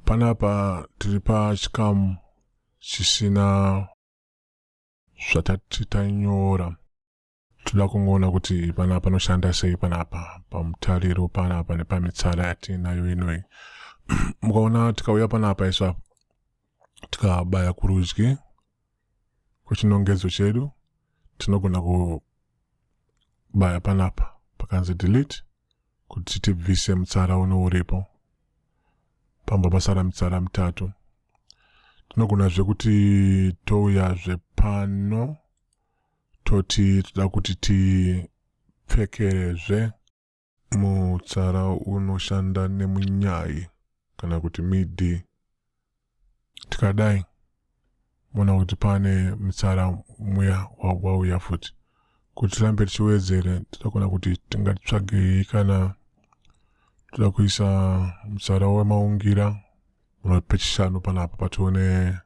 panapa tiri pachikamu chisina zvatati tanyora toda kungoona kuti panapa panoshanda sei panapa pamutariro panapa nepamitsara yatiinayo inoyi mukaona tikauya panapa iswa tikabaya kurudyi kwechinongedzo chedu tinogona kubaya panapa pakanzi delete kuti tibvise mutsara uno uripo pamba pasara mitsara mitatu tinogonazve kuti touyazve pano toti toda kuti tipfekerezve Mutsara unoshanda nemunyai kana kuti midi. Tikadai mona kuti pane mutsara muya wauya futi kuti tirambe tichiwedzere tinogona kuti tingatsvagei kana toda kuisa mutsara wemaungira unopechishanu panapa patione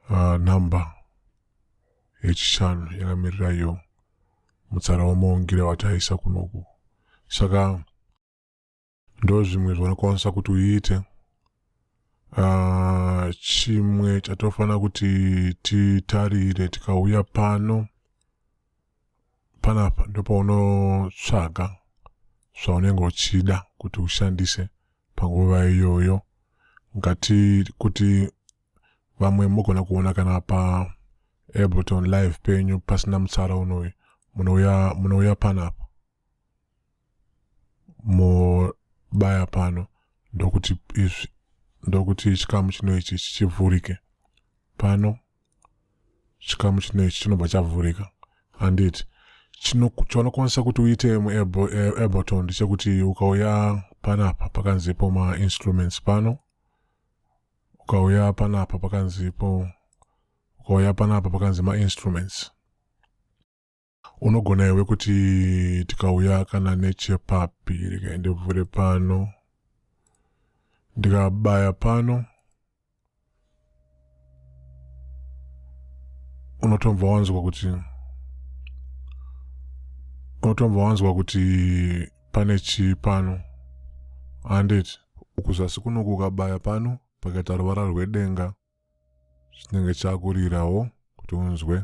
uh, number yechishanu yakamirira iyo mutsara wamaungire wataisa kunoku saka ndo zvimwe zvaunokwanisa kuti uite uh, chimwe chatofanira kuti titarire tikauya pano panapa ndopaunotsvaga zvaunenge uchida kuti ushandise panguva iyoyo ngati kuti vamwe mogona kuona kana pa ableton live penyu pasina mutsara unoyu munouya munouya panapa mobaya pano ndokuti izvi ndokuti chikamu chino ichi chichivhurike pano chikamu chino ichi chinobva chavhurika handiti chaunokwanisa kuti uite muaboton ndechekuti ukauya panapa pakanzi po mainstruments pano ukauya panapa pakanzi po ukauya panapa pakanzi mainstruments unogona iwe kuti tikauya kana nechepapi regai ndivhure pano ndikabaya pano unotomva wanzwa kuti unotomva wanzwa kuti pane chii pano handiti kuzasi kuno kukabaya pano pakaita ruvara rwedenga chinenge chakurirawo kuti unzwe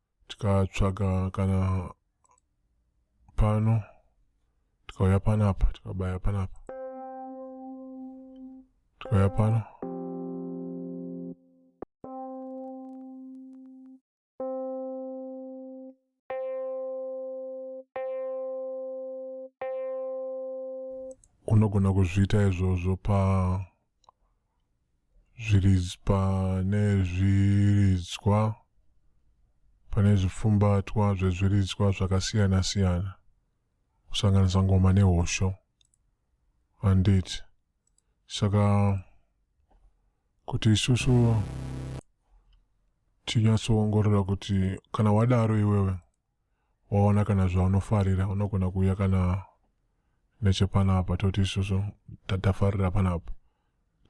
tikatsvaga kana pano tikauya panapa tikabaya panapa tikauya pano unogona kuzviita izvozvo pa zvirizpa nezviridzwa pane zvipfumbatwa zvezviridzwa zvakasiyana siyana kusanganisa ngoma nehosho handiti saka kuti isusu tinyatsoongorora kuti kana wadaro iwewe waona kana zvaunofarira unogona kuuya kana nechepanapa toti isusu tafarira panapa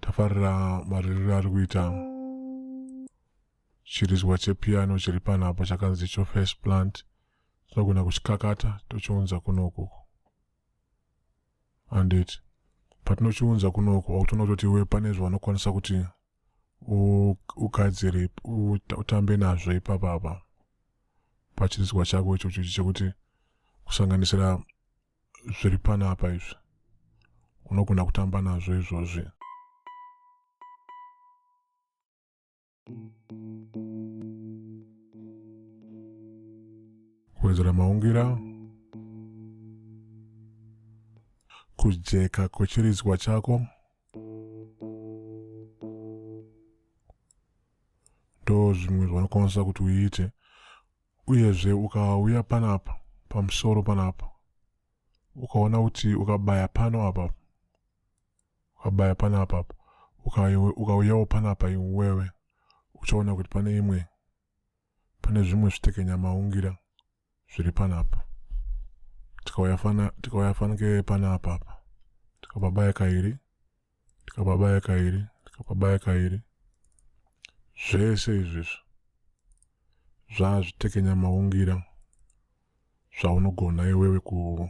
tafarira maririro ari kuita chirizwa chepiano chiri panapa chakanzi cho first plant tinogona kuchikakata tochiunza kunoku andit patinochiunza kunoku autonototi iwe pane zvaunokwanisa kuti ugadzire utambe nazvo ipapapa pachinzwa chako ichocho chekuti kusanganisira zviri panapa izvi unogona kutamba nazvo izvozvi kuwedzera maungira kujeka kwechiridzwa chako ndo zvimwe zvaunokwanisa kuti uite uyezve ukauya panapa pamusoro panapa ukaona kuti ukabaya pano apa ukabaya pano apa ukauyawo panapa iwewe uchaona kuti pane imwe pane zvimwe zvitekenya maungira zviri panapa tikauya fana tikauya fanike panapa apa tikapabaya kairi tikapabaya kairi tikapabaya kairi zvese izvizvi zvazvitekenya maungira zvaunogona iwewe ku,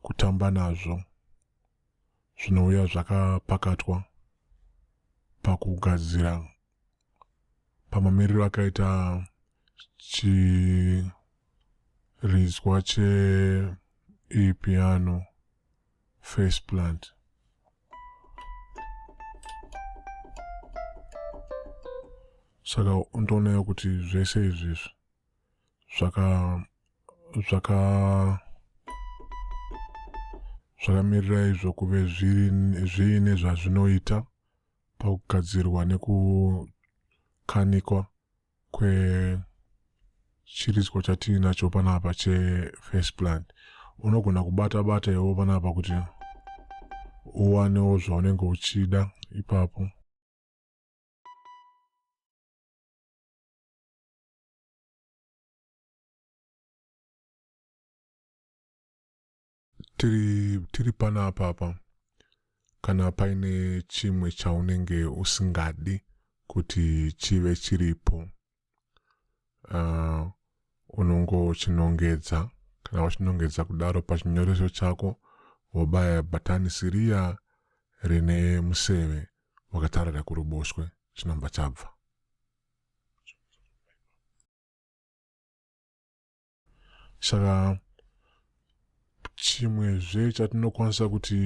kutamba nazvo zvinouya zvakapakatwa pakugadzira pamamiriro akaita chiridzwa cheipiano face plant saka ndoonayo kuti zvese izvezvi zvaka zvaka zvakamirira izvo kuve zviine zvazvinoita pakugadzirwa nekukanikwa kwechiridzwa chatiinacho panapa chefirst plan unogona kubata bata iwo panapa kuti uwanewo zvaunenge uchida ipapo tiri, tiri pana apapa kana paine chimwe chaunenge usingadi kuti chive chiripo uh, unongochinongedza kana wachinongedza kudaro pachinyoreso chako wobaya bhatani siriya rine museve wakatarira kuruboshwe chinobva chabva saka chimwezve chatinokwanisa kuti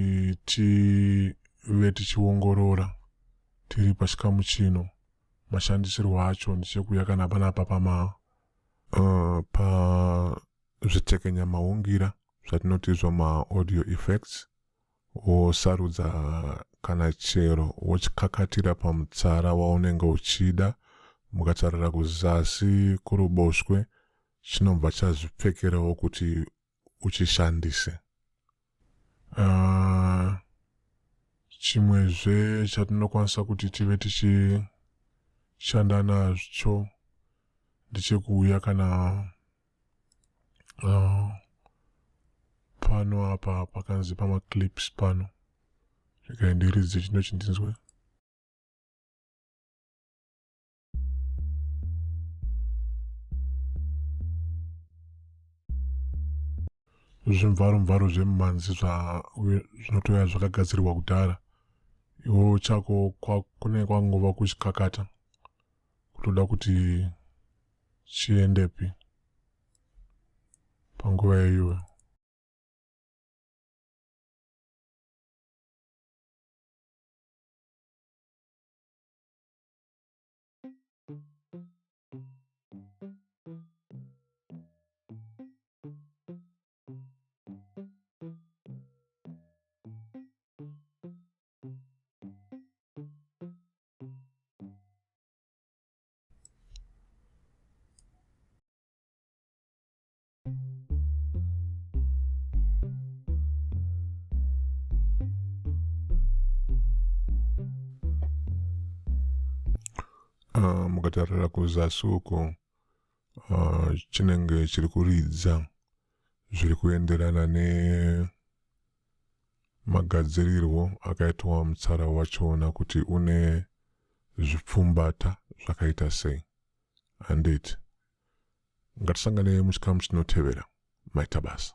tive tichiongorora tiri pachikamu chino mashandisirwo acho ndichekuya kana panapa pama uh, pazvitekenya maungira zvatinoti zvamaaudio effects wosarudza kana chero wochikakatira pamutsara waunenge uchida mukatarira kuzasi kuruboshwe chinobva chazvipfekerawo kuti uchishandise uh, chimwezve chatinokwanisa kuti tive tichishanda nazvo ndichekuuya kana uh, pano apa pakanzi pamaclips pano regai ndiridze chino chindinzwe zvimvaro mvaro zvemumanzi zvinotouya zvakagadzirirwa kudhara iwo chako kune kwangova kuchikakata kutoda kuti chiendepi panguva iyoyo mukatarira kuzasi uko chinenge chiri kuridza zviri kuenderana ne magadzirirwo akaitwa mutsara wacho ona kuti une zvipfumbata zvakaita sei handiti ngatisanganei muchikamu chinotevera maita basa